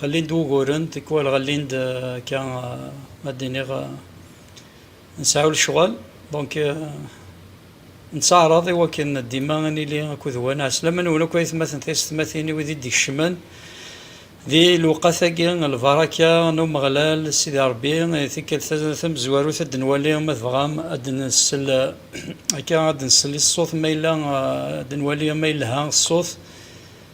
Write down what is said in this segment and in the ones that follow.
Ɣellin-d wuguren, tikwal ɣellin-d akka, ma d-iniɣ, nseɛɛu lecɣal, donc nettaɛraḍ i wakken dima ad nili akked waneɛ, s laman-nwen akk a itmaten tiysetmatin, i wid i d-ikecmen di lewqat-agi, lbaraka n Umeɣlal, Sidi Rebbi, i tikkelt tamezwarut ad d-nwali, ma tebɣam, ad d-nsel akka, ad d-nsel i ṣṣut, ma yella ad d-nwali ma yelha ṣṣut,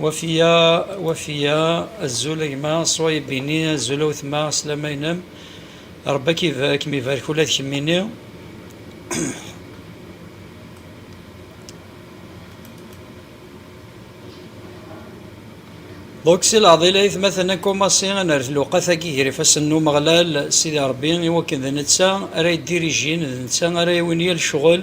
Wafiya, Wafiya, azul a gma Swayeb-ini, azul a wetma, sslam-a-inem, Rebbi a kem-ibarek ula d kemmini. Donc si leɛḍil aytmaten akumasi ad nerret lewqat-agi gar ifassen n Umeɣlal Sidi Rebbi i wakken d netta ara yeddirijin, d netta ara yawin yal ccɣel,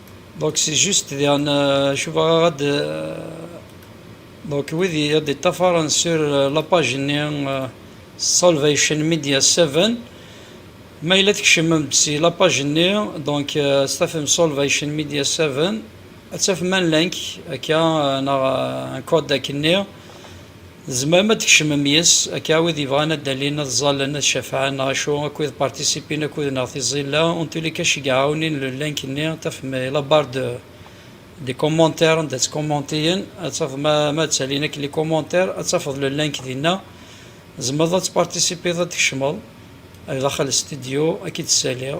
Donc c'est juste diɣen euh, cubaɣ aɣ euh, donc wid i ad iṭṭafaren sur euh, la page-nni Salvation Media 7 ma yella tkecmem-d si la page-nni donc s tafem Salvation Media 7 ad tafem un link akka neɣ un code akenni Tzemrem ad d-tkecmem yes-s, akka wid yebɣan ad d-alin, ad ẓallen, ad cafɛen, neɣ acu, akked participin akud-neɣ tiẓilla, en tous les cas cegɛɛunin le link-nni, tafem i la barre de des commentaires anda ttcommenteyen, ad tafeḍ ma ma ttalin akk les commentaires, ad tafeḍ le link dinna, tzemreḍ ad tparticipiḍ, ad d-tkecmeḍ ar daxel studio, ad k-id-ssaliɣ.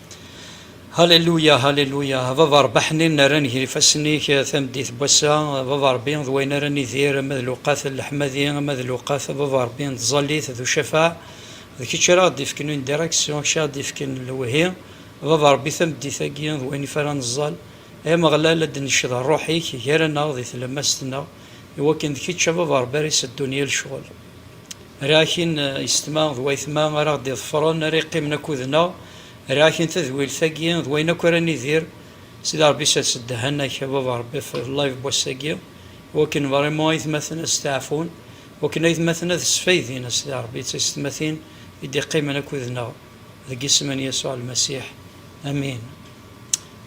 Haleluya, haleluya, a Baba Rebbi aḥnin nerran ger ifassen-ik tameddit n wass-a, a Baba Rebbi, d wayen ara nidir, ama d lewqat n leḥmadi, ama d lewqat, a Baba Rebbi, n tẓallit d ucafaɛ, d kečč ara aɣ-d-ifken une direction, kečč ara aɣ-d-ifken lewhi, a Baba Rebbi, tameddit-agi, d wayen ifa ara neẓẓal, ay Ameɣlal, ad d-necced Rruḥ-ik gar-aneɣ di tlemmast-nneɣ. Iwakken d kečč a baba Rebbi ara iseddun yal ccɣel. Rriɣ akin yessetma d wayetma ara aɣ-d-iḍefren, ara yeqqimen akkud-neɣ, rriɣ akin tadwilt-agi d wayen akk ara nidir. Sidi Rebbi sers ddehhan-ak a baba Rebbi ɣef live n wass-agi, iwakken vraiment ayetmaten ad steɛfun, iwakken ayetmaten ad sfaydin a Sidi Rebbi d taysetmatin i d-iqqimen akkud-neɣ, deg isem n Yasuɛ Lmasiḥ, amin.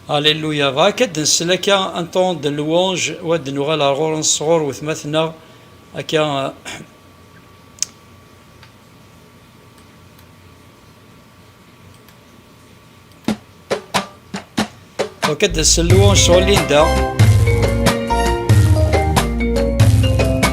Alléluia. Bɣa akka ad nsel akka un temps de louange u ad nuɣal ar ɣur-nsen sɣur wetmaten-nneɣ akka Bɣa akka ad nsel louange sɣur Linda.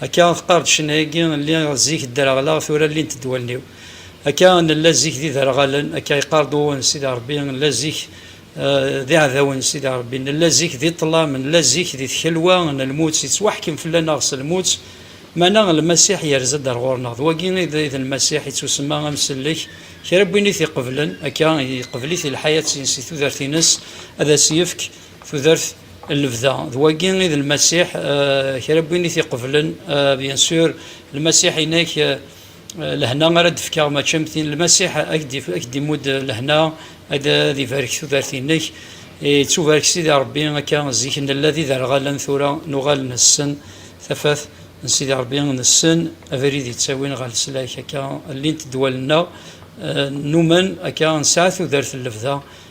Akka teqqar-d ccna-agi, lliɣ zik ddreɣleɣ, tura llint-d wallen-iw. Akka nella zik d iderɣalen, akka yeqqar-d uwwen n Sidi Rebbi, nella zik d iɛdawen n Sidi Rebbi, nella zik di ṭṭlam, nella zik di tkelwa n lmut, yettwaḥkem fell-aneɣ s lmut, meɛna Lmasiḥ yerza-d ar ɣur-neɣ, d wagi i d Lmasiḥ, ittusemma Amsellek, kra n win i t-iqeblen, akka iqbel-it i lḥayat-ines, i tudert-ines, ad as-yefk Tudert n lebda, d wagi i d Lmasiḥ, kra n win i t-iqeblen, bien sûr, Lmasiḥ-inek, lehna ara d-fkeɣ, mačči am tin, Lmasiḥ a k-d-imudd lehna, ad ibarek tudert-inek. Ittubarek Sidi Ṛebbi, akka zik nella d iderɣalen, tura nuɣal nessen tafat n Sidi Ṛebbi, nessen abrid yettawin ɣer leslak, akka llint ddwal-nneɣ, numen akka nesɛa tudert n lebda.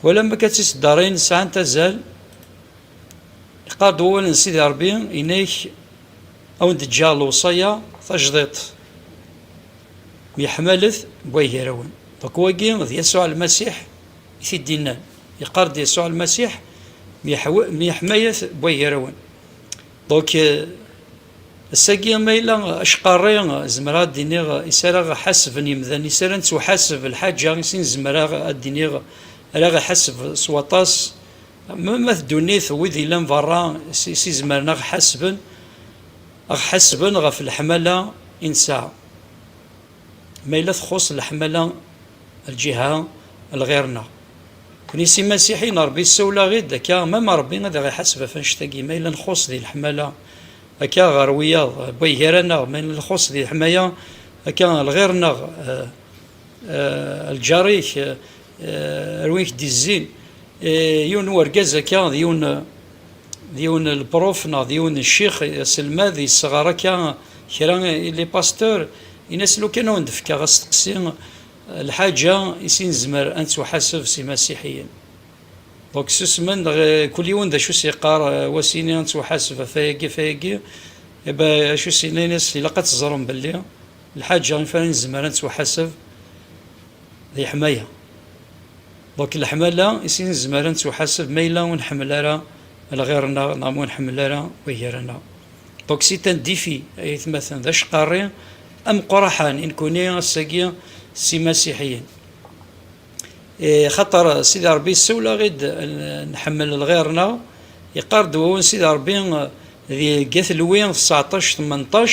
Twalam akka d tiseddarin sɛant azal, iqqar-d wawal n Sidi Ṛebbi, yenna-ak a wen-d-ǧǧeɣ lewṣaya tajdiṭ, myeḥmalet buay gar-awen. Ḍuk wagi d Yasuɛ Lmasiḥ i t-id-innan, yeqqar-d Yasuɛ Lmasiḥ, myeḥmayet buay gar-awen. Ḍuk Ass-agi ma yella acqarri, zemreɣ ad d-iniɣ i s ara ɣ-ḥasben yemdanen, i s ara nettwaḥaseb, lḥaǧa i sin zemreɣ ad d-iniɣ ara aɣ-iḥaseb s waṭas, am at ddunit, wid yellan berra i s izemren aɣ-ḥasben, aɣ-ḥasben ɣef leḥmala i nesɛa. Ma yella txuṣ leḥmala lǧiha lɣir-nneɣ. Nekni s imasiḥiyen Rebbi yessawel-aɣ-id akka mama Rebbi ad aɣ-iḥaseb ɣef annect-agi ma yella nxuṣ di leḥmala akka ɣer wiyaḍ wway gar-aneɣ ma yella nxuṣ di leḥmaya akka lɣir-nneɣ lǧar-ik Eh, ar win k-d-izzin eh, yiwen n urgaz akka d yiwen d yiwen lpruf neɣ d yiwen ccix aselmad yesɣar akka kra ili pasteur in-as lukan ad wen-d-fkeɣ asteqsi eh, lḥaǧa i si nezmer ad nettwaḥaseb s imasiḥiyen donc susmen neɣ kul yiwen d acu s-yeqqar wasini ad nettwaḥaseb ɣef ayagi ɣef ayagi eba acu s-yenna in-as ilaq ad teẓrem belli lḥaǧa i fara nezmer ad nettwaḥaseb D leḥmaya. Donc leḥmala i sin nezmer ad nettuḥaseb ma yella ur nḥemmel ara lɣir-nneɣ neɣ ma ur nḥemmel ara wegger-nneɣ. Donc c'est un défi ay atmaten, d acqarri ameqqraḥan i nekuni ass-agi s imasiḥiyen. Xaṭer Sidi Ṛebbi yessawel-aɣ-id nḥemmel lɣir-nneɣ, yeqqar-d wawal Sidi Ṛebbi di Get Lwi seɛṭac tmenṭac,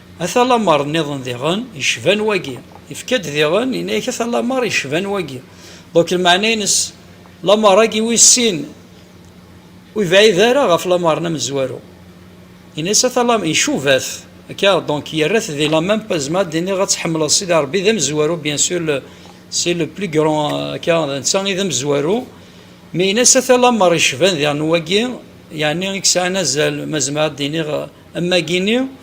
Ata lamer nniḍen diɣen yecban wagi. Yefka-d diɣen, yenna-ak ata lamer yecban wagi. Ḍuk lmeɛna-ines, lamer-agi wis sin ur yebɛid ara ɣef lamer n amezwaru. Yenna-as ata lamer, icuba-t, akka, donc yerra-t di la même pose, zemreɣ ad d-iniɣ ad tḥemmleḍ Sidi Rebbi d amezwaru, bien sur le, c'est le plus grand, akka, d netta i d amezwaru, mais yenna-as ata lamer yecban diɣen wagi, yeɛni i yesɛan azal, ma zemreɣ ad d-iniɣ, am wagi-nni.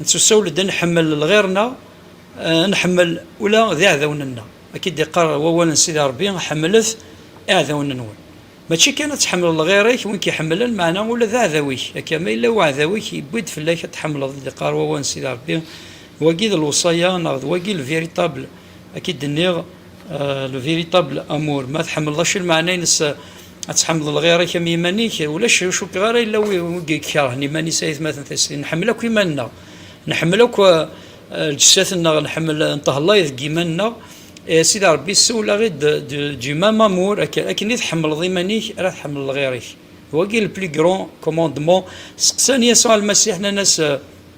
Nettusawel-d ad nḥemmel lɣir-nneɣ, ad nḥemmel ula d iɛdawen-nneɣ. Akka i d-iqqar wawal n Sidi Ṛebbi, Ḥemmlet iɛdawen-nwen. Mačči kan ad tḥemmleḍ lɣir-ik, win k-iḥemmlen, meɛna ula d aɛdaw-ik. Akka, ma yella uɛdaw-ik, yewwi-d fell-ak ad t-tḥemmleḍ, i d-iqqar wawal n Sidi Ṛebbi. D wagi i d lewṣaya, neɣ d wagi le véritable, akka i d-nniɣ, le véritable amour. Ma tḥemmleḍ acu i lmeɛna-ines? Ad tḥemmleḍ lɣir-ik am yiman-ik, ulac ur cukkeɣ ara yella wi ikerhen iman-is ayetmaten tastin. Nḥemmel akk iman-nneɣ, nḥemmel akk eh, lǧessat-nneɣ, nḥemmel eh, ntehlay deg yiman-nneɣ. Eh, a Sidi Ṛebbi, ssewleɣ-id du, du même amour, akken, akken i tḥemmleḍ iman-ik, ara tḥemmleḍ lɣir-ik. D wagi le plus grand commandement. Seqsan Yasuɛ Lmasiḥ, nnan-as, eh,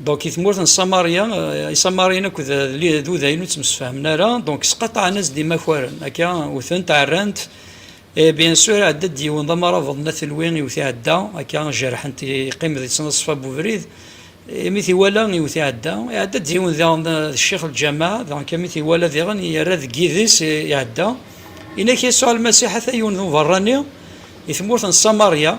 Donc, i tmurt n Samarya, eh, Isamariyen akked d udayen ur ttemsefhamen ara, donc sqaṭaɛen-as-d imakaren, akka utent, ɛerran-t, et bien sûr ɛedda-d yiwen d amarabeḍ n At Lwi iwet iɛedda, akka jerḥen-t, yeqqim di ttnaṣfa n ubrid, imi t-iwala iwet iɛedda, iɛedda-d yiwen diɣen d ccix lǧamaɛ, donc imi t-iwala diɣen yerra deg yidis iɛedda, inak Yasuɛ Lmasiḥ ata yiwen d uberrani i tmurt n Samarya,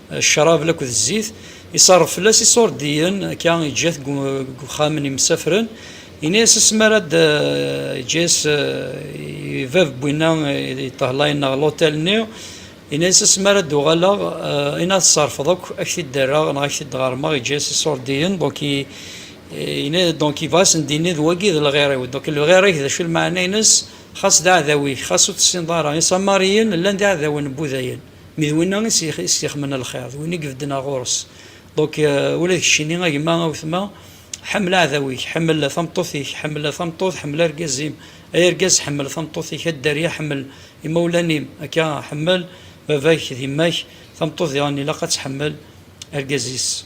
Ccrab akked zzit, iṣerref fell-as iṣurdiyen, akka yeǧǧa-t deg uxxam n yimsafren, yenna-as asmi ara d, yeǧǧa-as i bab n winna yeṭṭehlayen neɣ l'hôtel-nni, yenna-as asmi ara d-uɣaleɣ, ayen ara tṣerrfeḍ akk ad ak-t-id-rreɣ neɣ ad ak-t-id-ɣermeɣ, yeǧǧa-as iṣurdiyen, donc yenna, donc yebɣa ad asen-d-yini d wagi i d lɣir-iw, donc lɣir-ik d acu lmeɛna-ines, xas d aɛdaw-ik, xas ur tessineḍ ara, iṣamariyen llan d iɛdawen n wudayen. Mi d winna i s-ixemen lxir, d win i ibedden ar ɣur-s. Donc, ula d keččini a gma, a wetma, ḥemmel aɛdaw-ik, ḥemmel tameṭṭut-ik, ḥemmel tameṭṭut, ḥemmel argaz-im, ay argaz ḥemmel tameṭṭut-ik, a dderya ḥemmel imawlan-im, akka, ḥemmel baba-k d yemma-k, tameṭṭut diɣen ilaq ad tḥemmel argaz-is.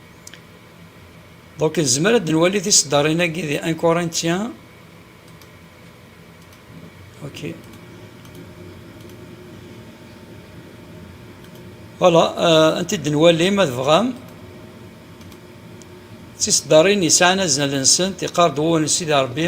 Donc nezmer ad nwali tiseddarin-agi di 1 Corinthiens ok voilà ad t-id-nwali ma tebɣam tiseddarin yesɛan azal-nsent iqarr-d wawal n Sidi Ṛebbi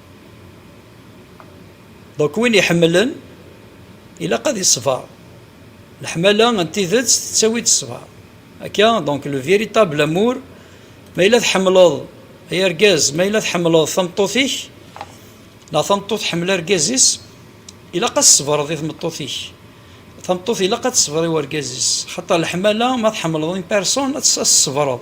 Donc win iḥemmlen ilaq ad iṣber. Leḥmala n tidet tettawi-d ṣṣber. Akka, donc le véritable amour, ma yella tḥemmleḍ ay argaz, ma yella tḥemmleḍ tameṭṭut-ik, neɣ tameṭṭut tḥemmel argaz-is, ilaq ad ṣebreḍ i tmeṭṭut-ik. Tameṭṭut ilaq ad teṣber i urgaz-is. Xaṭer leḥmala, ma tḥemmleḍ une personne, ad teṣebreḍ.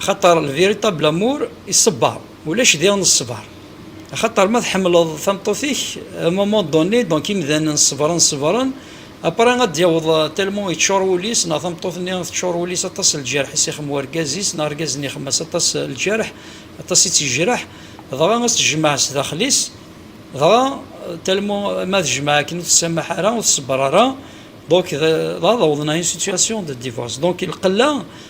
Axaṭer le véritable amour iṣebber, ulac diɣen ṣṣber. Axaṭer ma tḥemmleḍ tameṭṭut-ik, à un moment donné, donc imdanen ṣebren ṣebren, après ad d-yaweḍ tellement yeččur wul-is, neɣ tameṭṭut-nni teččur wul-is aṭas lǧerḥ i s-ixem wergaz-is, neɣ argaz-nni ixem-as aṭas lǧerḥ, aṭas i tt-yejreḥ, dɣa ad s-tejmaɛ s daxel-is, dɣa tellement ma tejmaɛ akken ur tessamaḥ ara, ur tṣebber ara, donc ad awḍen à une situation de divorce. Donc lqella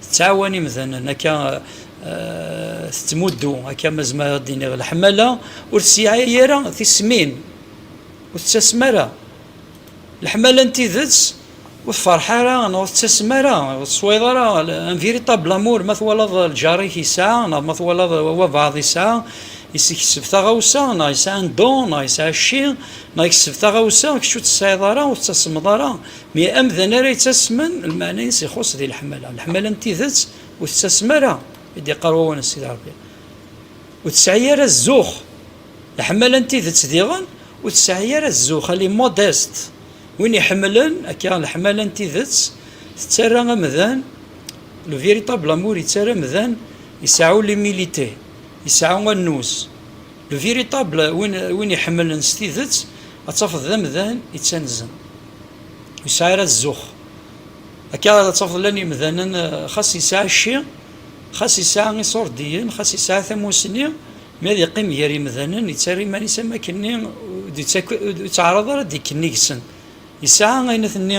Tettɛawan imdanen akka tettmuddu akka ma zemreɣ ad d-iniɣ leḥmala ur tesɛi ara tismin, ur tettasem ara. Leḥmala n tidet ur tferreḥ ara neɣ ur tettasem ara, ur teswayeḍ ara un véritable amour ma twalaḍ lǧar-ik yesɛa neɣ ma twalaḍ wabɛaḍ yesɛa, yeskecseb taɣawsa neɣ yesɛa un don neɣ yesɛa cci neɣ yekseb taɣawsa kečč ur tt-tesɛiḍ ara ur tettasemeḍ ara Mi amdan ara yettasmen, lmeɛna-ines ixuṣṣ di leḥmala. Leḥmala n tidet ur tettasem ara, i d-iqqar wawal n Sidi Ṛebbi. Ur tesɛi ara zzux. Leḥmala n tidet diɣen ur tesɛi ara zzux, elle est modeste. Win iḥemmlen akka leḥmala n tidet, tettarra amdan, le véritable amour yettarra amdan iseɛɛu l'humilité, iseɛɛu annuz. Le véritable, win iḥemmlen s tidet, ad tafeḍ d amdan yettanzen. Ur yesɛi ara zzux. Akka ara tafeḍ llan yemdanen xas yesɛa cci, xas yesɛa iṣurdiyen, xas yesɛa tamusni, mi ad yeqqim gar yemdanen yettarra iman-is am wakken-nni ur yettɛaraḍ ara ad d-ikken yeg-sen. Yesɛa ayen ad t-nni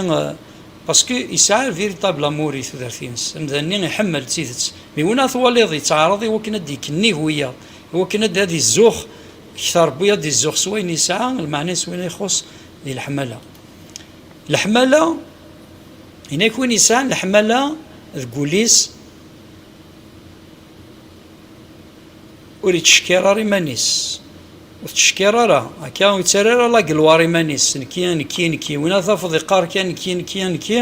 parce que yesɛa un véritable amour i tudert-ines. Amdan-nni iḥemmel d tidet. Mi win ara twaliḍ yettɛaraḍ i wakken ad d-ikken nnig wiyaḍ, i wakken ad d-izzux kter n wiyaḍ, ad d-izzux s wayen yesɛa, lmeɛna-is win ixuṣṣ, di leḥmala. Leḥmala, inak win yesɛan leḥmala deg wul-is ur ittcekkir ara iman-is, ur tettcekkir ara, akka ur yettara ara lagelwar iman-is, nekki, nekki, nekki, win ara tafeḍ yeqqar kan nekki, nekki, nekki,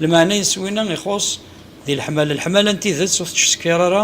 lmeɛna-is winna ixuṣṣ di leḥmala. Leḥmala n tidet ur tettcekkir ara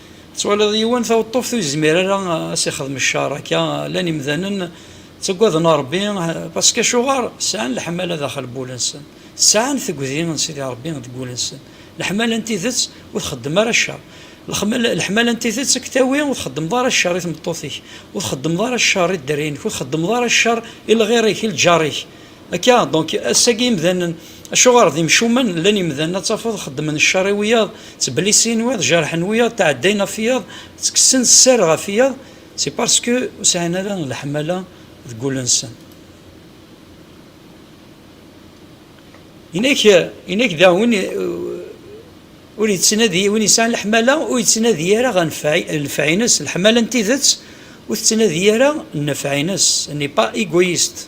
Tettwaliḍ yiwen taweṭṭuft ur yezmir ara ad s-ixdem ccer akka, llan imdanen ttaggaden a Rebbi parce que acuɣer sɛan leḥmala daxel n wul-nsen, sɛan tegdi n Sidi Rebbi deg wul-nsen, leḥmala n tidet ur txeddem ara ccer, leḥmala n tidet a k-tawi ur txeddmeḍ ara ccer i tmeṭṭut-ik, ur txeddmeḍ ara ccer i dderya-inek, ur txeddmeḍ ara ccer i lɣir-ik, i lǧar-ik, Akka, donc, ass-agi imdanen, acuɣer d imcumen, llan imdanen ad tafeḍ xeddmen ccer i wiyaḍ, ttbellisin wiḍ, jerḥen wiyaḍ, tɛeddayen ɣef wiyaḍ, ttekksen sser ɣef wiyaḍ, c'est parce que ur sɛin ara leḥmala deg wul-nsen. Inak, inak daɣ win ur yettnadi, win yesɛan leḥmala ur yettnadi ara ɣer nnfeɛ-ines, leḥmala n tidet ur tettnadi ara nnfeɛ-ines, elle n'est pas égoïste.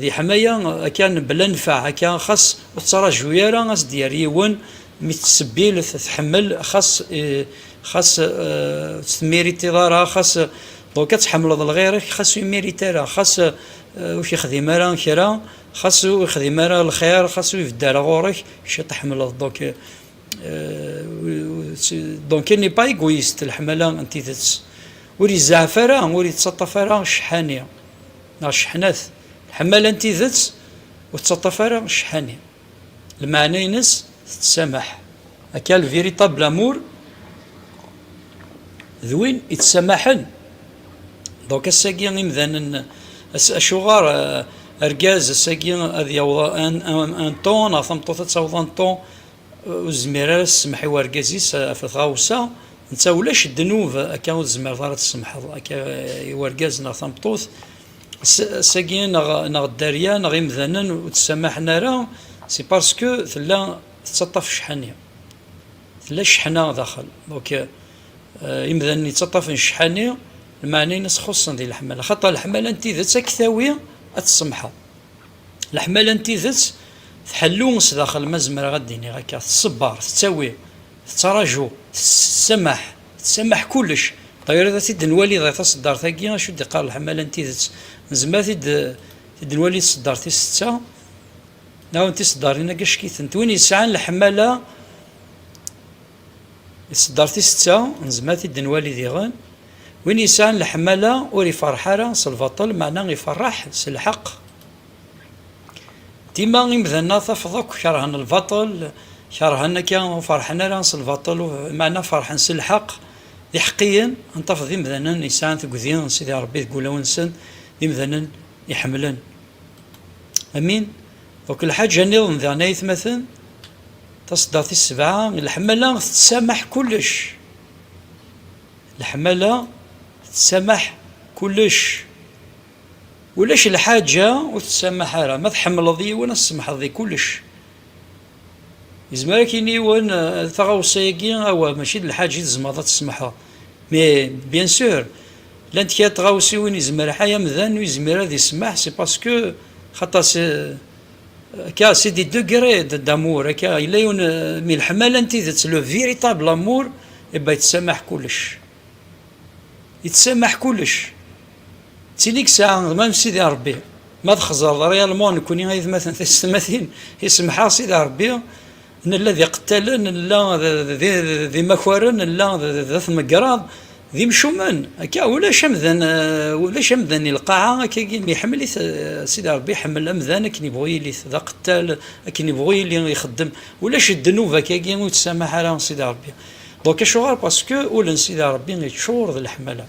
Di ḥmaya akka bla nnfeɛ akka xas ur tettraǧu ara a s-d-yerr yiwen mi tettṣebbilet tḥemmel xas xas ur tt-temmiritiḍ ara xas donc ad tḥemmleḍ lɣir-ek xas ur immirit ara xas ur k-ixdim ara kra xas ur ixdim ara lxir xas ur ibedd ara ɣur-ek kečč tḥemmleḍ donc donc elle n'est pas égoïste leḥmala n tidet. Ur izeɛɛef ara, ur ittaṭṭaf ara ccḥani, neɣ cceḥnat, lḥemmala n tidet ur tettaṭṭaf ara ccḥani, lmeɛna-ines tettsameḥ, aka le véritable amour d win ittsamaḥen, donc ass-agi imdanen, acuɣer argaz ass-agi ad yaweḍ un ton, neɣ tameṭṭut ad taweḍ un ton, ur tezmir ara ad tessemḥ i wergaz-is ɣef tɣawsa, netta ulac ddnub akka ur tzmireḍ ara ad tessemḥeḍ akka i wergaz neɣ tameṭṭut, ass-agi neɣ neɣ dderya neɣ imdanen ur d-ssamaḥen ara, c'est parce que tella tettaṭṭaf ccḥani, tella cceḥna daxel, donc imdanen yettaṭṭafen ccḥani, lmeɛna-ines xuṣṣen di leḥmala, xaṭer leḥmala n tidet ad k-tawi ad tessemḥeḍ. Leḥmala n tidet tḥellu sdaxel, ma zemreɣ ad d-iniɣ akka, tṣebber, tettawi, tettraǧu, tessamaḥ, tessamaḥ kullec. Tɣileḍ ad t-id-nwali dɣi taṣeddart-agi, acu d-iqqar leḥmala n tidet? Nezmer ad t-id-nwali tṣeddart tis setta, neɣ n tiṣeddarin-agi, acek-itent. Win yesɛan leḥmala. Isedder tisetta, nezmer ad t-id-nwali diɣen, win yesɛan leḥmala ur iferreḥ ara s lbaṭel, meɛna iferreḥ s lḥeqq. Dima imdanen-a tafeḍ akk kerhen lbaṭel, kerhen akka, ur ferreḥen ara s lbaṭel, meɛna ferreḥen s lḥeqq, d iḥeqqiyen. Ad tafeḍ d imdanen yesɛan tuggdi n Sidi Ṛebbi deg wulawen-nsen, d imdanen iḥemmlen. Amin. Akk lḥaǧa nniḍen daɣen ay atmaten, taṣeddart tis sebɛa, leḥmala tettsameḥ kullec. Leḥmala tettsameḥ kullec. Ulac lḥaǧa ur tettsameḥ ara. Ma tḥemmleḍ yiwen ad tsemḥeḍ di kullec. Yezmer ad k-yini yiwen taɣawsa-agi, awa mačči d lḥaǧa i tzemreḍ ad tsemḥeḍ. Mais bien sûr, llant kra tɣawsiwin yezmer ḥay amdan ur yezmir ad yesmaḥ, c'est parce que xaṭer akka c'est des degrés d'amour akka yella yiwen mi leḥmala n tidet le véritable amour et eh ben yettsamah kullec yettsamah kullec ttili ssaɛa d mam sidi Rebbi ma txeẓreḍ réellement nekni ayetmaten taysetmatin isemḥeɣ sidi Rebbi Nella d iqettalen, nella d imakaren, nella d at Megraḍ, d imcumen, akka, ulac amdan, ulac amdan i lqaɛa, akkagi, iḥemmel-it Sidi Ṛebbi, iḥemmel amdan akken ibɣu yili-t, d aqettal, akken ibɣu yili ixeddem, ulac ddnub akkagi ur ittsamaḥ ara Sidi Ṛebbi. Donc acuɣer? Parce que ul n Sidi Ṛebbi iččur d leḥmala.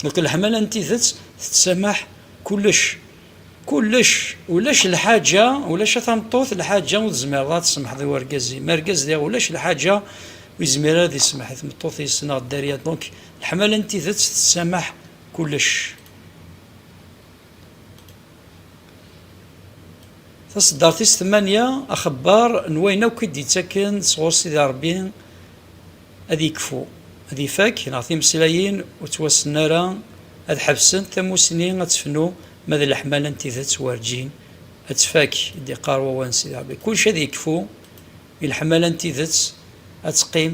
Donc leḥmala n tidet tettamaḥ kullec. Kullec, ulac lḥaǧa, ulac a tameṭṭut, lḥaǧa ur tzmireḍ ara ad tsemḥeḍ i urgaz-im. Argaz diɣ ulac lḥaǧa, ur yezmir ara ad isemḥ i tmeṭṭut-is neɣ dderya. Donc, leḥmala n tidet tessamaḥ kullec. Taseddart tis tmanya, axebbar n wayen akk i d-ittaken sɣur Sidi Rebbi. ad yekfu, ad ifak, neɣ timeslayin ur ttwassen ara ad ḥebsent, tamussni ad tefnu, ma d leḥmala n tidet werǧin ad tfak, i d-iqqar wawal n Sidi Rebbi, kullec ad yekfu, i leḥmala n tidet ad teqqim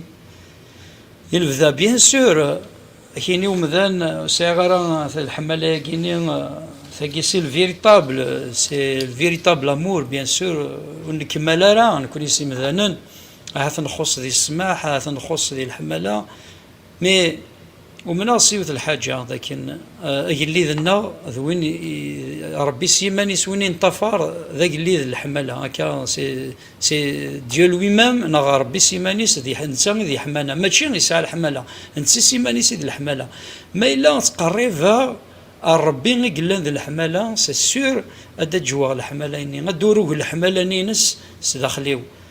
i lebda, bien sûr, akini umdan ur sɛiɣ ara leḥmala-yagini, tagi c'est le véritable, c'est le véritable amour, bien sûr, ur nekmal ara nekni s imdanen. Ahat nxuṣ di ssmaḥ, ahat nxuṣ di leḥmala, mi umneɣ s yiwet lḥaǧa, d akken agellid-nneɣ d win Ṛebbi s yiman-is, win i neṭṭafar d agellid n leḥmala, akka c'est Dieu lui-même, neɣ Ṛebbi s yiman-is d netta i d leḥmala, mačči yesɛa leḥmala, netta s yiman-is i d leḥmala. Ma yella ttqerribeɣ ar Ṛebbi i yellan d leḥmala, c'est sûr ad d-ǧǧweɣ leḥmala-nni, ad d-urug leḥmala-nni-ines s daxel-iw.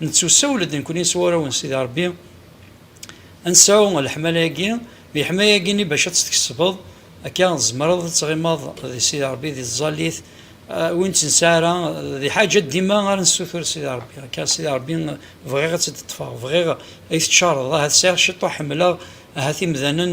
Nettusawel-d nekkni s warraw n Sidi Ṛebbi ad nesɛu leḥmala-agi, leḥmaya-agi-nni bac ad tt-tkesbeḍ akka tzemreḍ ad tɣimeḍ di Sidi Ṛebbi di tẓallit, ur nettnesɛi ara d lḥaǧa dima ara nessutur Sidi Ṛebbi akka, Sidi Ṛebbi bɣiɣ ad tt-id-ṭṭfeɣ, bɣiɣ ay teţčareḍ, ahat sɛiɣ ciṭuḥ ḥemmleɣ, ahat imdanen.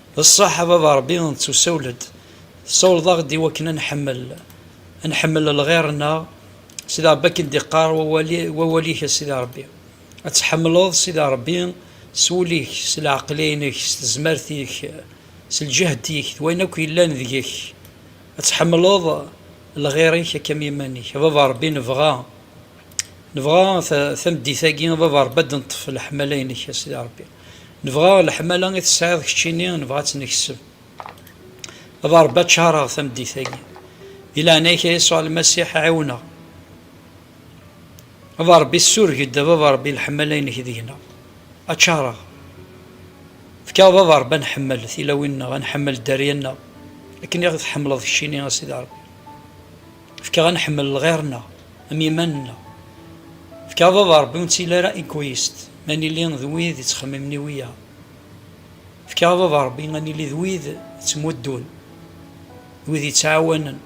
D ṣṣeḥ a baba Ṛebbi nettusawel-d, tessawleḍ-aɣ-d i wakken a nḥemmel, a nḥemmel lɣir-nneɣ, Sidi Ṛebbi akken d-iqqar wawal-ik a Sidi Ṛebbi, ad tḥemmleḍ Sidi Ṛebbi s wul-ik, s leɛqel-inek, s tezmert-ik, s lǧehd-ik, d wayen akk yellan deg-k, ad tḥemmleḍ lɣir-ik akka am yiman-ik. A baba Ṛebbi nebɣa, nebɣa tameddit-agi a baba Ṛebbi ad d-neṭṭef leḥmala-inek a Sidi Ṛebbi. Nebɣa leḥmala i tesɛiḍ keččini nebɣa ad tt-nekseb. A Barebbi ad ččareɣ tameddit-agi. Di leɛnaya-k a Yasuɛ Lmasiḥ ɛiwen-aɣ. A Barebbi ssureg-d a Baba Rebbi leḥmala-inek deg-neɣ. Ad ččareɣ. Efk-aɣ Baba Rebbi ad nḥemmel tilawin-nneɣ, ad nḥemmel dderya-nneɣ akken i ɣ-tḥemmleḍ keččini a Sidi Rebbi. Fkeɣ a nḥemmel lɣir-nneɣ am yiman-nneɣ. Fkeɣ baba Rebbi ur nettili ara egoist ma nili d wid yettxemmimen i wiyaḍ. Fkeɣ baba Rebbi a nili d wid yettmuddun, d wid yettɛawanen.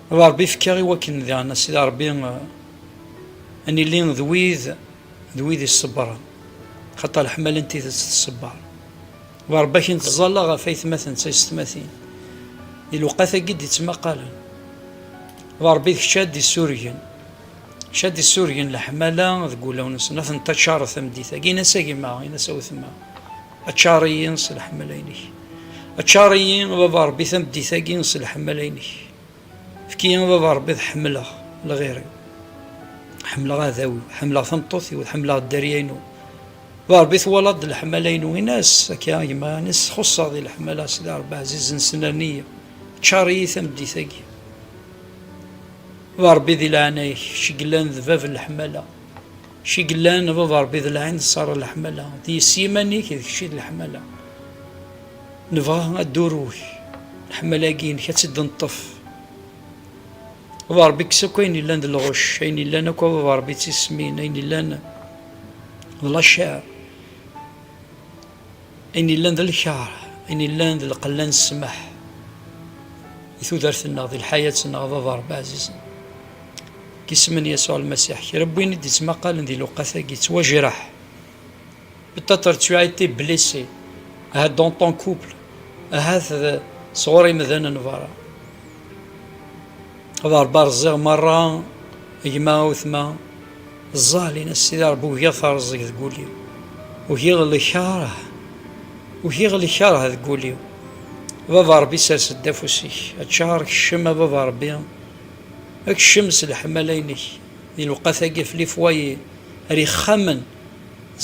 Baba Rebbi fkeɣ i wakken diɣen a Sidi Rebbi a nili d wid d wid iṣebbren xaṭer leḥmala n tidet tṣebber. Werbac n tẓalla ɣef aytmaten d taysetmatin, di lewqat-agi i d-ittmaqalen. D Ṛebbi d kečč ara d-issurgen, kečč ara d-issurgen leḥmala deg wulawen-nsen, ad ten-taččareḍ tameddit-agi. Ini-as a gma, ini-as a wetma, aččar-iyi s leḥmala-inek, aččar-iyi a Baba Ṛebbi tameddit-agi s leḥmala-inek. Fki a baba rebbi ad ḥemmleɣ lɣir-iw, ḥemmleɣ aɛdaw-iw, ḥemmleɣ tameṭṭut-iw, ḥemmleɣ dderya-inu. Baba rebbi twalaḍ-d leḥmala-inu, in-as akka a gma, in-as txuṣṣeɣ di leḥmala, sidi rebbi ɛzizen snerni-yi, ččar-iyi tameddit-agi. Baba rebbi di leɛnaya-k, kečč i yellan d bab n leḥmala. Kečč i yellan, a baba Ṛebbi d lɛin d ṣara leḥmala, d yess yiman-ik, d kečč i d leḥmala. Nebɣa adduru-k, leḥmala-agi inek ad tt-id-neṭṭef. A baba Ṛebbi kkes akk ayen yellan d lɣucc, ayen yellan akk a baba Ṛebbi d tismin, ayen yellan d lacaṛ. Ayen yellan d lkar, ayen yellan d lqella n ssmaḥ di tudert-nneɣ, di lḥayat-nneɣ, d aḍerb ɛzizen. Deg yisem n Yasuɛ Lmasiḥ, kra n win i d-ittmaqalen di lewqat-agi yettwajreḥ. Peut-être tu as été blessé, ahat dans ton couple, ahat d sɣur imdanen berra. Ad Ṛebbi rẓiɣ meṛṛa gma awetma ẓẓal in as Sidi Ṛebbi ugiɣ terẓeg deg ul-iw ugiɣ lkeṛh ugiɣ lkeṛh deg ul-iw baba Ṛebbi sers-d afus-ik aččar keccem a baba Ṛebbi keccem s leḥmala-inek di lewqat-agi fell-i fwayi ar ixxamen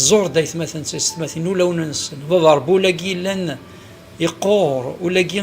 ẓur-d aytmaten d teysetmatin ulawen-nsen baba Ṛebbi ul-agi yellan yeqqur ul-agi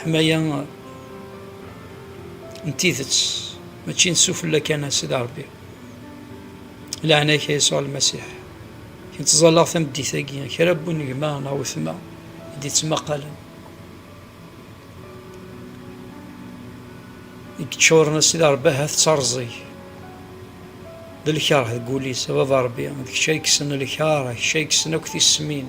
Ḥmaya n tidet mačči n sufella kan a Sidi Ṛebbi. Laɛna-k a Yasuɛ Lmasiḥ, kemm ttẓallaɣ tameddit-agi kra n wunegma neɣ wetma i d-ittmaqalen, i yeččuren a Sidi Ṛebbi ahat d taṛẓeg, d lkeṛh deg wul-is, a Baba Ṛebbi, d kečč ay yekksen lkeṛh, d kečč ay yekksen akk tismin.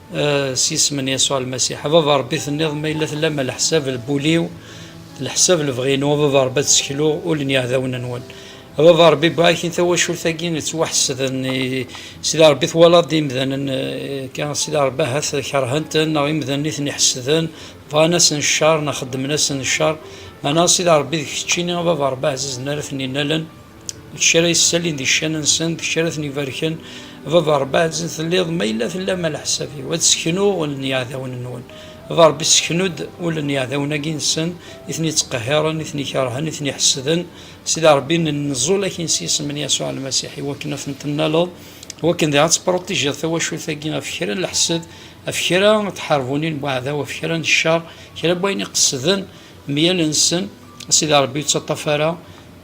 s yisem n Yasuɛ Lmasiḥ. A Baba Ṛebbi, tenniḍ, Ma yella tellam a leḥsab n wul-iw, d leḥsab n lebɣi-inu, a Baba Ṛebbi, ad ssekluɣ ul n yiɛdawen-nwen. A Baba Ṛebbi, barakin tawacult-agi yettwaḥesden i Sidi Ṛebbi. Twalaḍ imdanen akka, a Sidi Ṛebbi, ahat keṛhen-ten, neɣ imdanen i ten-iḥesden, bɣan-asen cceṛ, neɣ xeddmen-asen cceṛ. Meɛna, a Sidi Ṛebbi, d keččini, a Baba Ṛebbi ɛzizen, ara ten-innalen. d kečč ara yessalin di ccan-nsen, d kečč ara ten-ibarken, baba Rebbi ɛezzet telliḍ, ma yella tellam a leḥsab-iw, ad sseknuɣ ul n yiɛdawen-nwen, baba Rebbi sseknu-d ul n yiɛdawen-agi-nsen, i ten-ittqehhiren, i ten-ikerhen, i ten-iḥessden, Sidi Rebbi nennẓul-ak-in s yisem n Yasuɛ Lmasiḥ, i wakken ad ten-tennaleḍ, i wakken diɣ ad tepruṭijiḍ tawacult-agi ɣef kra n leḥsed, ɣef kra n tḥerbunin n weɛdaw, ɣef kra n ccer, kra n wayen iqesden meyal-nsen, a Sidi Rebbi ur ttaṭṭaf ara,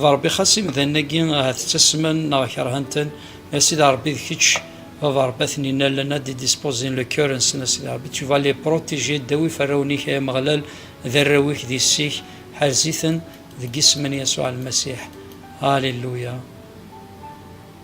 D Ṛebbi xas imdanen-agi ahat ttasmen neɣ kerhen-ten, a Sidi Ṛebbi d kečč baba Ṛebbi a ten-inallen, a d-idisposin le cœur-nsen a Sidi Ṛebbi, tu vas les protéger, ddawif arraw-nnek ay Ameɣlal, d arraw-ik d yessi-k, ḥerz-iten deg yisem n Yasuɛ Lmasiḥ. Alléluia.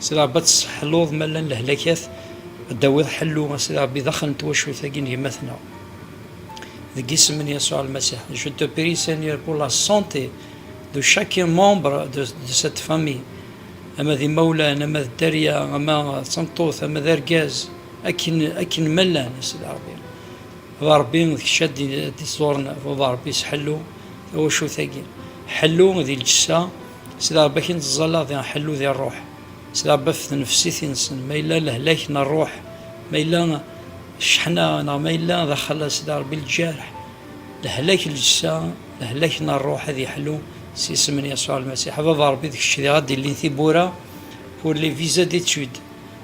Sidi Ṛebbi ad tesseḥluḍ ma llan lehlakat, ad d-tawiḍ ḥellu a Sidi Ṛebbi daxel n twacult-agi n gma-tneɣ. Deg yisem n Yasuɛ Lmasiḥ, je te prie Seigneur pour la santé de chacun membre de de cette famille, ama d imawlan, ama d dderya, ama d tameṭṭut, ama d argaz, akken akken ma llan a Sidi Ṛebbi. D a Ṛebbi d kečč ad d-iẓuren, d a Ṛebbi sḥellu tawacult-agi, ḥellu di lǧessa, S leɛba-k i nettẓalla di ḥellu di ṛṛuḥ, s leɛba ɣef tnefsit i nsen, ma yella lehlak n ṛṛuḥ, ma yella cceḥna, neɣ ma yella d axalas di Ṛebbi lǧerḥ, lehlak n lǧessa, lehlak n ṛṛuḥ ad yeḥlu s isem n Yasuɛ Lmasiḥ. A Baba Ṛebbi, d kečč diɣ ad d-ilin tiwwura pour les visas d'étude,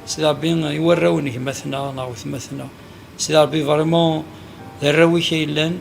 Sidi Ṛebbi, i warraw n gma-tneɣ neɣ wetma-tneɣ. Sidi Ṛebbi, vraiment d arraw-ik ay llan,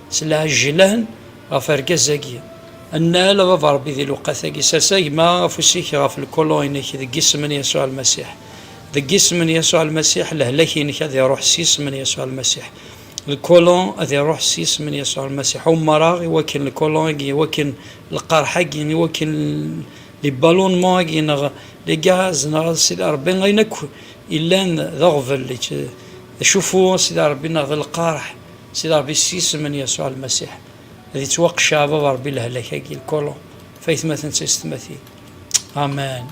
S lɛejj yelhan ɣef argaz-agi. Nnal, a Baba Rebbi di lewqat-agi, sers a gma afus-ik ɣef lkuluin-ik deg isem n Yasuɛ Lmasiḥ. Deg isem n Yasuɛ Lmasiḥ, lehlak-inek ad iruḥ s yisem n Yasuɛ Lmasiḥ. Lkulun ad iruḥ s yisem n Yasuɛ Lmasiḥ. Ummeṛeɣ i wakken lkulun-agi, i wakken lqerḥ-agi, i wakken les ballonnements-agi neɣ les gaz neɣ a Sidi Rebbi ayen akk yellan d aɣbel, d acuffu a Sidi Rebbi neɣ d lqerḥ, Sidi Ṛebbi s yisem n Yasuɛ Lmasiḥ ad ittwaqecceɛ baba Ṛebbi lehlak-agi, lkolo, ɣef aytmaten d taysetmatin. Amen.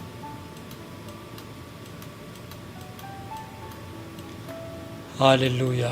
Alléluia.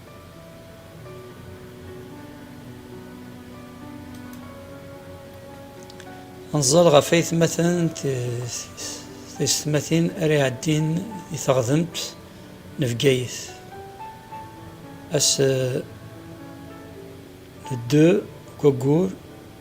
Anẓar ɣef aytmaten taysetmatin ara iɛeddin i teɣdemt n Bgayet. Ass n ddu n waggur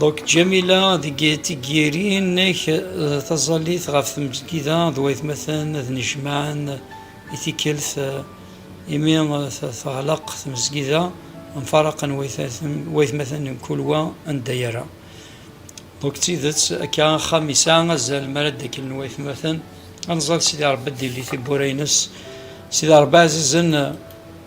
Donc Jamila deg tiggirin ak taẓallit ɣef tmesgida d waytmaten ad nejmaɛen i tikkelt imi teɣleq tmesgida mfaraqen waytmaten n kul wa anda yerra. Donc d tidet akka axxam yesɛa azal mi ara d-akklen waytmaten ad nẓal Sidi Ṛebbi ad d-yelli tiwwura-ines Sidi Ṛebbi ɛzizen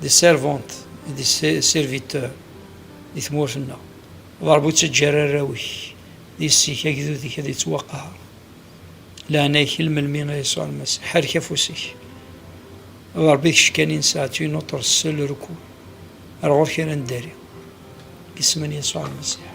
des servantes et des serviteurs di tmurt-nneɣ. D Ṛebbi ur ttaǧǧa ara arraw-ik d yessi-k agdud-ik ad yettwaqaher. Leɛnaya-k il melmi a Yasuɛ Lmasiḥ, ḥerrek afus-ik. D Ṛebbi kečč kan i nesɛa, tu es notre seul recours. Ar ɣur-k ara neddari. Isem n Yasuɛ Lmasiḥ.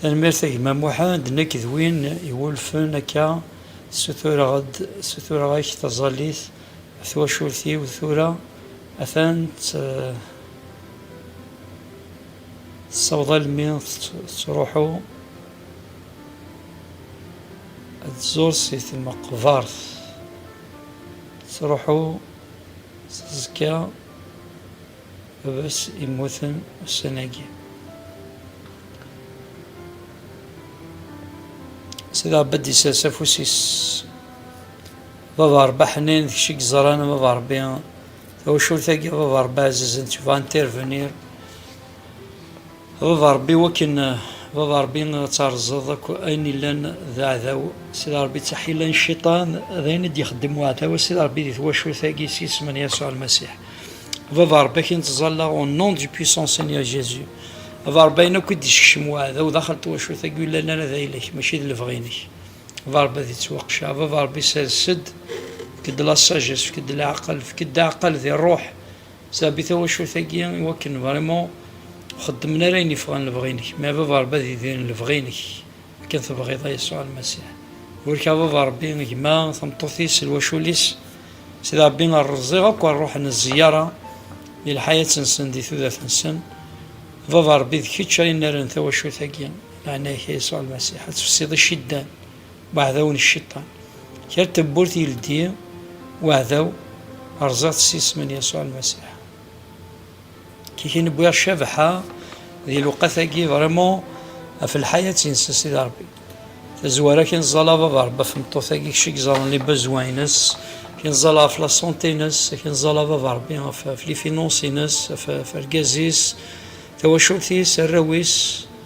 Tanemmirt a gma Muḥend, nekk d win iwulfen akka sutureɣ-d sutureɣ-ak taẓallit twacult-iw tura atan tessaweḍ almi tettruḥu ad tẓur si tmeqbert tettruḥu teẓka baba-s immuten ussan-agi Sidi Ɛebad isers afus-is baba Rebbi ḥnin d kečč i yeẓran baba Rebbi tawacult-agi baba Rebbi ɛzizen tebɣa n tirvenir Baba Rebbi wakken Baba Rebbi ad terzeḍ akk ayen illan d aɛdaw Sidi Rebbi d taḥila n cciṭan d ayen i d-ixeddem uɛdaw a Sidi Rebbi di twacult-agi s yisem n Yasuɛ Lmasiḥ Baba Rebbi akken ttẓallaɣ au nom du puissant Seigneur Jésus Baba Rebbi ayen akk i d-isekcem uɛdaw daxel n twacult-agi ur yellan ara d ayla-k mačči d lebɣi-inek Baba Rebbi ad ittwaqecceɛ Baba Rebbi sers-d fek-d la sagesse fek-d leɛqel fek-d aɛqel di ṛṛuḥ Sɛebbi tawacult-agi i wakken vraiment xeddmen ara ayen yeffɣen lebɣi-inek. Mais a baba Rebbi ad idiren lebɣi-inek akken tebɣiḍ a Yasuɛ Lmasiḥ. Burek a baba Rebbi gma, tameṭṭut-is, lwacul-is. Sidi Rebbi rreẓiɣ akk ar ruḥen zziyaṛa di lḥayat-nsen, di tudert-nsen. A baba Rebbi d kečč ara inaren tawacult-agi. Leɛnaya-k a Yasuɛ Lmasiḥ ad tfessiḍ iciddan. Waɛdaw n cciṭan. Kra tawwurt yeldi waɛdaw rẓiɣ-tt s isem n Yasuɛ Lmasiḥ. Kiki newwiɣ ccabaḥa di lewqat-agi vraiment ɣef lḥayat-nnes a Sidi Rebbi. Tazwara kki neẓẓala Baba Rebbi ɣef tmeṭṭut-agi kečč i yeẓran les besoins-nnes, kki neẓẓala ɣef la santé-nnes, kki neẓẓala Baba Rebbi ɣef les finances-nnes, ɣef argaz-is, tawacult-is, arraw-is.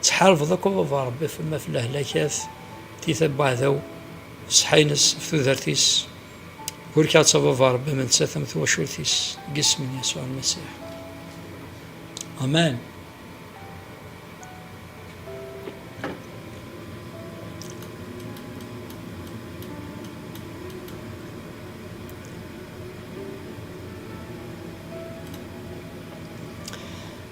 Ttḥarbeḍ akk a baba Ṛebbi af maf lehlak af tiyta n waɛdaw ṣṣeḥḥa ines af tudert-is burkeɣ-tt a baba Ṛebbi am nettat am twacult-is deg isem n Yasuɛ Lmasiḥ amen.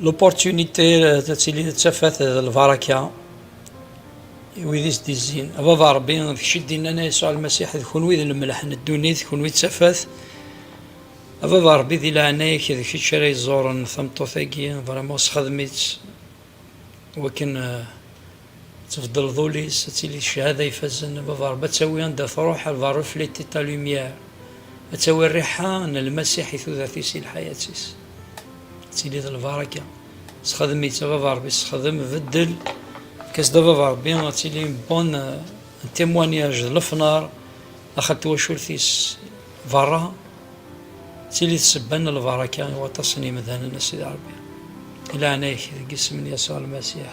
L'opportunité euh, de tili d tafat d lbaraka i wid i s-d-izzin. Baba Rebbi, d kečč i d-innan ay Yasuɛ Lmasiḥ, d kunwi d lemleḥ n ddunit, kunwi d tafat. Baba Rebbi di leɛnaya-k d kečč ara yeẓẓuren tameṭṭut-agi, vraiment sexdem-itt wakken euh, Ad tbeddleḍ ul-is, ad tili ccahada ifazen, lbaberb ad tawi anda truḥ, elle va refleter ta lumière, ad tawi rriḥa n Lmasiḥ i tudert-is, i lḥayat-is. Ad tili d lbaraka. Sexdem-itt, ababerb-is, sexdem, beddel, efk-as-d ababerb-i, ad tili une bonne, un témoignage d lefnar daxel twacult-is berra, ad tili d ssebba n lbaraka i waṭas n yemdanen, a Sidi Rebbi. Di leɛnaya-k, deg yisem n Yasuɛ Lmasiḥ.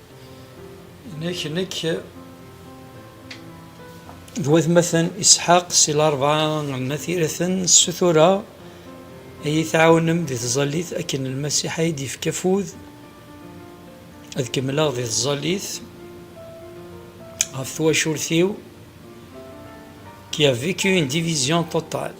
Nek, nek d watmaten Isḥaq si larebɛa n At Iraten ssutureɣ ad iyi-tɛawnem di tẓallit akken Lmasiḥ ay d-yefka afud ad kemmleɣ di tẓallit ɣef twacult-iw qui a vécu une division totale.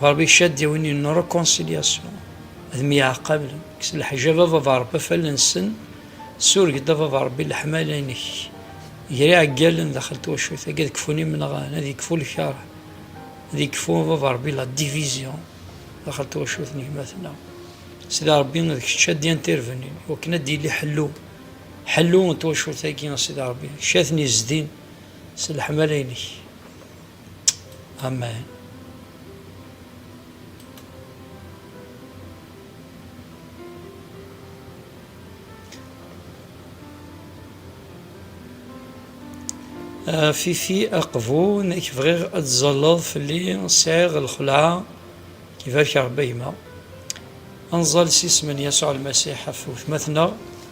Ɣerbi icaddi win n reconciliation, ad myeɛqablen, kkes leḥjab a baba Rebbi af allen-nsen, sureg-d a baba Rebbi leḥmala-inek, ger iɛeggalen daxel twacult-agi, ad kfun imenɣan, ad yekfu lkeṛh, ad yekfu a baba Rebbi la division daxel twacult n gma-tneɣ, Sidi Rebbi d kečč a d-yan tirbenin i wakken ad d-yili ḥellu, ḥellu n twacult-agi a Sidi Rebbi, kečč a ten-yezdin s leḥmala-inek. Amen. Euh, Fifi Aqbou, nek bɣiɣ ad tzalleḍ fell-i sɛiɣ lxelɛa ibarek Rebbi gma. Anẓal s isem n Yasuɛ Lmasiḥ ɣef wetma-tneɣ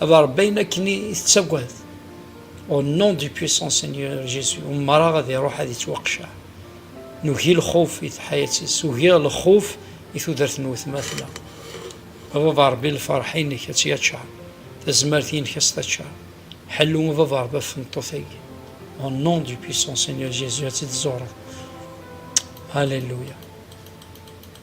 A Ṛebbi ayen akken i tettagad. Au nom du puissant Seigneur Jésus, ummareɣ ad iruḥ ad ittwaqceɛ. Nugi lxuf i tḥayat-is, ugiɣ lxuf i tudert n wetmatma. A Baba Ṛebbi lferḥ-inek ad tt-yaččar, tazmert-inek ad s-taččar. Ḥellu a Baba Ṛebbi ɣef tmeṭṭut-agi. Au nom du puissant Seigneur Jésus ad tt-id-tẓureḍ. Alléluia.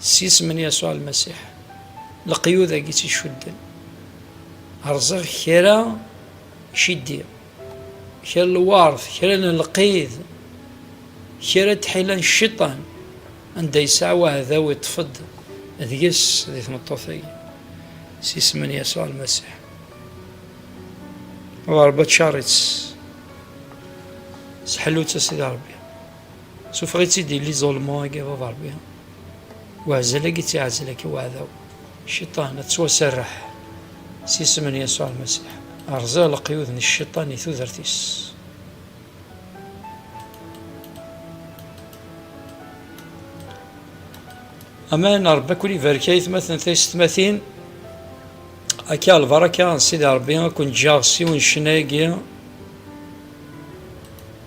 S yisem n Yasuɛ Lmasiḥ, leqyud-agi tt-icudden, rẓiɣ kra ciddi, kra n lweṛt, kra n lqid, kra n tḥila n cciṭan, anda yesɛa waɛdaw iṭṭef-d deg-s di tmeṭṭut-agi. S yisem n Yasuɛ Lmasiḥ. Ṛebbi aččaṛ-itt. Seḥlu-tt a Sidi Ṛebbi. Sufeɣ-itt-id yelli ẓulmu agi bab Rebbi, weɛzel agi tt-iɛzel agi weɛdaw, cciṭan, ad ttwaserreḥ s isem n Yasuɛ Lmasiḥ. Rẓiɣ leqyud n cciṭan i tudert-is. Amen, Rebbi akun ibarek ay tmaten taysetmatin. Akka lbaraka n Sidi Rebbi akun ǧǧaɣ s yiwen ccnayagi.